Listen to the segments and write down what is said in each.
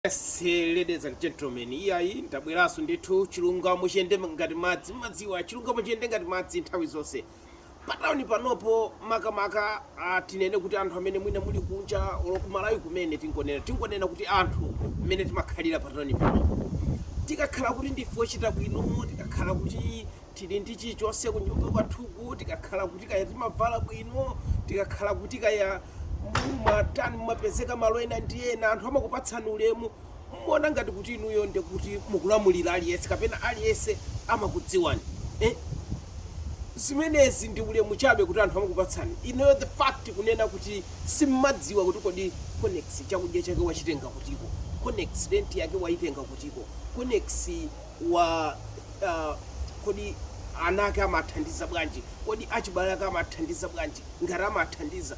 Yes ladies and gentlemen, iyayi ndabweraso ndithu chilungamo chiyende ngati madzi mmadziwa chilungamo chiyende ngati madzi nthawi zonse patawuni panopo makamaka ah, tinene kuti anthu amene mwina muli kunja olo kumalawi kumene tingonena tingonena kuti anthu mmene timakhalira patawuni panopo tikakhala kuti ndife ochita bwino tikakhala kuti Tili ndi chilichonse kunyumba kwathuku, tikakhala kuti kaya timavala bwino, tikakhala kuti kaya mumatani, mumapezeka malo ena ndi ena, anthu amakupatsani ulemu, mumaona ngati kuti inuyo ndi kuti mukulamulira aliyense kapena aliyense amakudziwani eh? Zimenezi ndi ulemu chabe kuti anthu amakupatsani inuyo, the fact kunena kuti simmadziwa kuti kodi Konnex chakudya chake wachitenga kutiko, Konnex rent yake waitenga kutiko, Konnex wa ah, kodi ana ake amathandiza bwanji kodi achibale ake amathandiza bwanji ngati amathandiza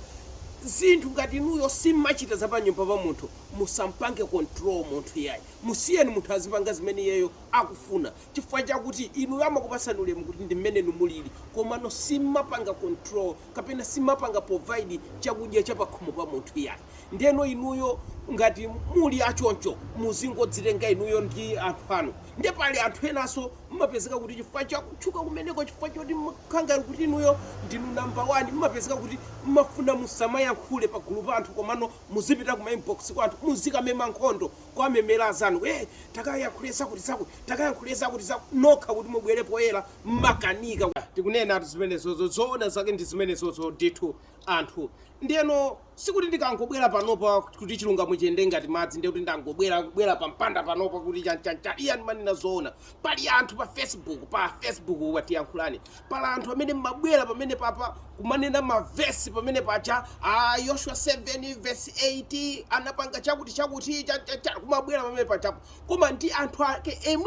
zinthu ngati inuyo simmachita za panyumba pa munthu musampange control munthu yayi musiyeni munthu azipanga zimene iyeyo akufuna chifukwa chakuti inuyo amakupasani ulemu kuti ndi mmene inu mulili komano simmapanga control kapena simmapanga provide chakudya cha pakhomo pa munthu iyayi. Ndeno inuyo ngati muli a choncho muzingodzitenga inuyo ndi anthu anu. Nde pali anthu enanso mmapezeka kuti chifukwa cha kutchuka kumeneko chifukwa choti mmakhala ngati kuti inuyo ndinu number one mmapezeka kuti mmafuna musamayankhule pagulu pa anthu komano muzipita kuma inbox kwa anthu muzikamema nkhondo kuwamemela azanu hey takayankhule zakuti zakuti takayankhule zakuti zakuti nokha kuti mubwere poyela mmakanika ku. Tikunenatu zimenezozo, zoona zake ndi zimenezozo ndithu anthu. Ndiyeno sikuti ndikangobwera panopa kuti chilungamo chiyende ngati madzi ndiye kuti ndangobwera kubwera pa mpanda panopa kuti chan chan chan, iyayi ndimanena zoona. Pali anthu pa Facebook, pa Facebook pa Tiyankhulane, pali anthu amene mmabwera pamenepaja kumanena ma verse pamene paja, aah Yoshua 7 verse 8 anapanga chakuti chakuti chan chan chan, kumabwera pamene pajapo koma ndi anthu ake inu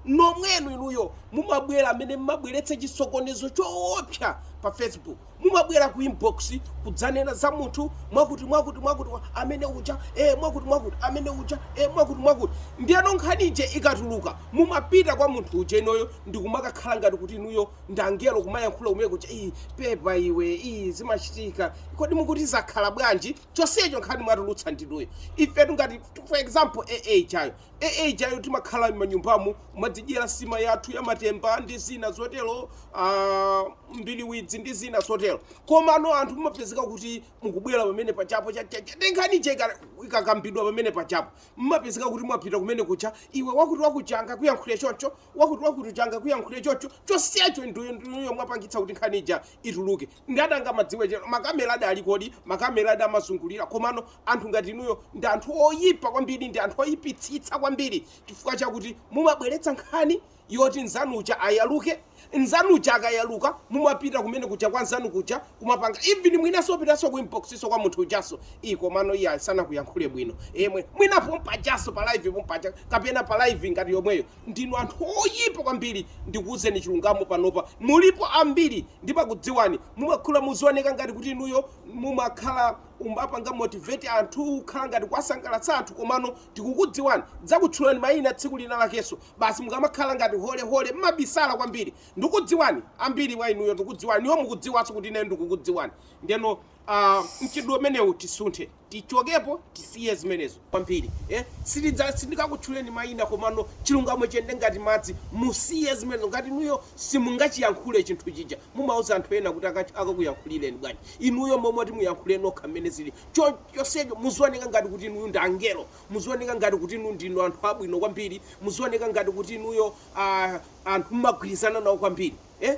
nomwenu inuyo mumabwera amene mmabweretsa chisokonezo choopsa pa facebook mumabwera ku inbox kudzanena za munthu mwakuti mwakuti mwakuti wa- amene uja eh, mwakuti mwakuti amene uja eh, mwakuti mwakuti ndiyeno nkhani ija ikatuluka mumapita kwa munthu uja inuyo ndikumakakhala ngati kuti inuyo ndi angelo kumayankhula kumene kuja iyi pepa iwe iyi zimachitika kodi mukuti zakhala bwanji chonsecho nkhani mwatulutsa ndinuyo ifetu ngati for example aa ijayo aa ijayo timakhala m'manyumbamu kumadzidyera sima yathu yamatemba ndi zina zotero ah, mbiliwidzi ndi zina zotero komano anthu mumapezeka kuti mukubwera pamene pajapo cha- cha- cha- ndi nkhani ija ika- ikakambidwa pamene pajapo mumapezeka kuti mwapita kumene kuja iwe wakuti wakuti tangokayankhule chocho wakuti wakuti tangokayankhule chocho chonsecho ndinuyo ndinuyo mwapangitsa kuti nkhani ija ituluke Ndani angamadziwe chero? Makameladi aliko di? Makameladi amazungulira. Komano, anthu ngati inuyo ndi anthu oyipa kwambiri, ndi anthu oyipitsitsa kwambiri chifukwa chakuti mumabweretsa nkhani yoti mzanu uja ayaluke, mzanu uja akayaluka mumapita kumene kuja kwa mzanu kuja kumapanga even mwinanso opitanso ku inbox so kwa munthu ujanso, ii komano iyayi sanakuyankhule bwino, ee mwina mwina pompajanso pa live pompaja kapena pa live ngati yomweyo. Ndinu anthu oyipa kwambiri ndikuuzeni chilungamo panopa mulipo ambiri ndimakudziwani mumakhala muzioneka ngati kuti inuyo mumakhala umapanga motivate anthu kukhala ngati kuwasangalatsa anthu komano tikukudziwani ndidzakutchulani mayina tsiku lina lakenso basi mukamakhala ngati hole hole mmabisala kwambiri ndukudziwani ambiri wa inuyo ndukudziwani inuyo mukudziwanso kuti ineyo ndikukudziwani ndeno aah mchitidwe umenewu tisinthe. tichokepo tisiye zimenezo kwambiri eh sitidza sindingakutchuleni maina komano chilungamo chiyende ngati madzi musiye zimenezo ngati inuyo simungachiyankhule chinthu chija mumauza anthu ena kuti aka- akakuyankhulireni bwanji inuyo momoti muyankhule nokha mmene zili Cho- chonsecho muzioneka ngati kuti inuyo ndi angelo muzioneka ngati kuti inu ndinu anthu abwino kwambiri muzioneka ngati kuti inuyo ah, anthu mumagwirizana nawo kwambiri eh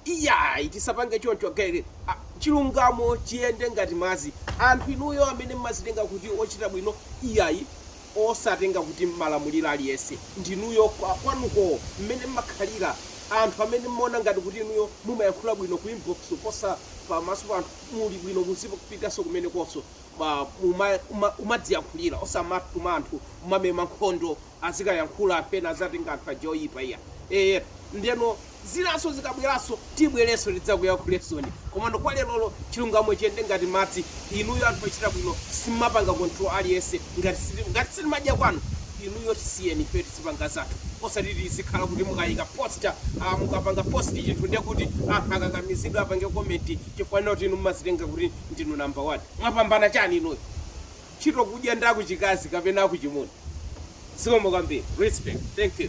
Iyayi tisapange choncho again chilungamo chiyende ngati madzi anthu inuyo amene mmazitenga kuti ochita bwino iyayi osazitenga kuti mmalamulira aliyense ndinuyo kwanuko mmene mmakhalira anthu amene mmaona ngati kuti inuyo mumayankhula bwino ku inbox kuposa pa maso pa anthu muli bwino muzipitaso kumenekoso kumai kumadziyankhulira osamatuma anthu kumamema nkhondo azikayankhula pena azatenga anthu aja oyipa iya eeh ndeno zinaso zikabwelaso tibweleso tidzakuyakhulesoni komano kwa lelolo chilungamo chiyende ngati madzi inuyo anthu ochita bwino simumapanga control aliyense ngati siti ngati sitimadya kwanu inuyo tisiyeni ifeyo tizipanga zathu osati tizikhala kuti mukayika poster aah mukapanga post chinthu ndekuti anthu akakamizike apange comment chifukwa choti inu mumazitenga kuti ndinu number one mwapambana chani inuyo? ntchito kudya ndi akuchikazi kapena akuchimuna? Zikomo kwambiri. Respect. Thank you.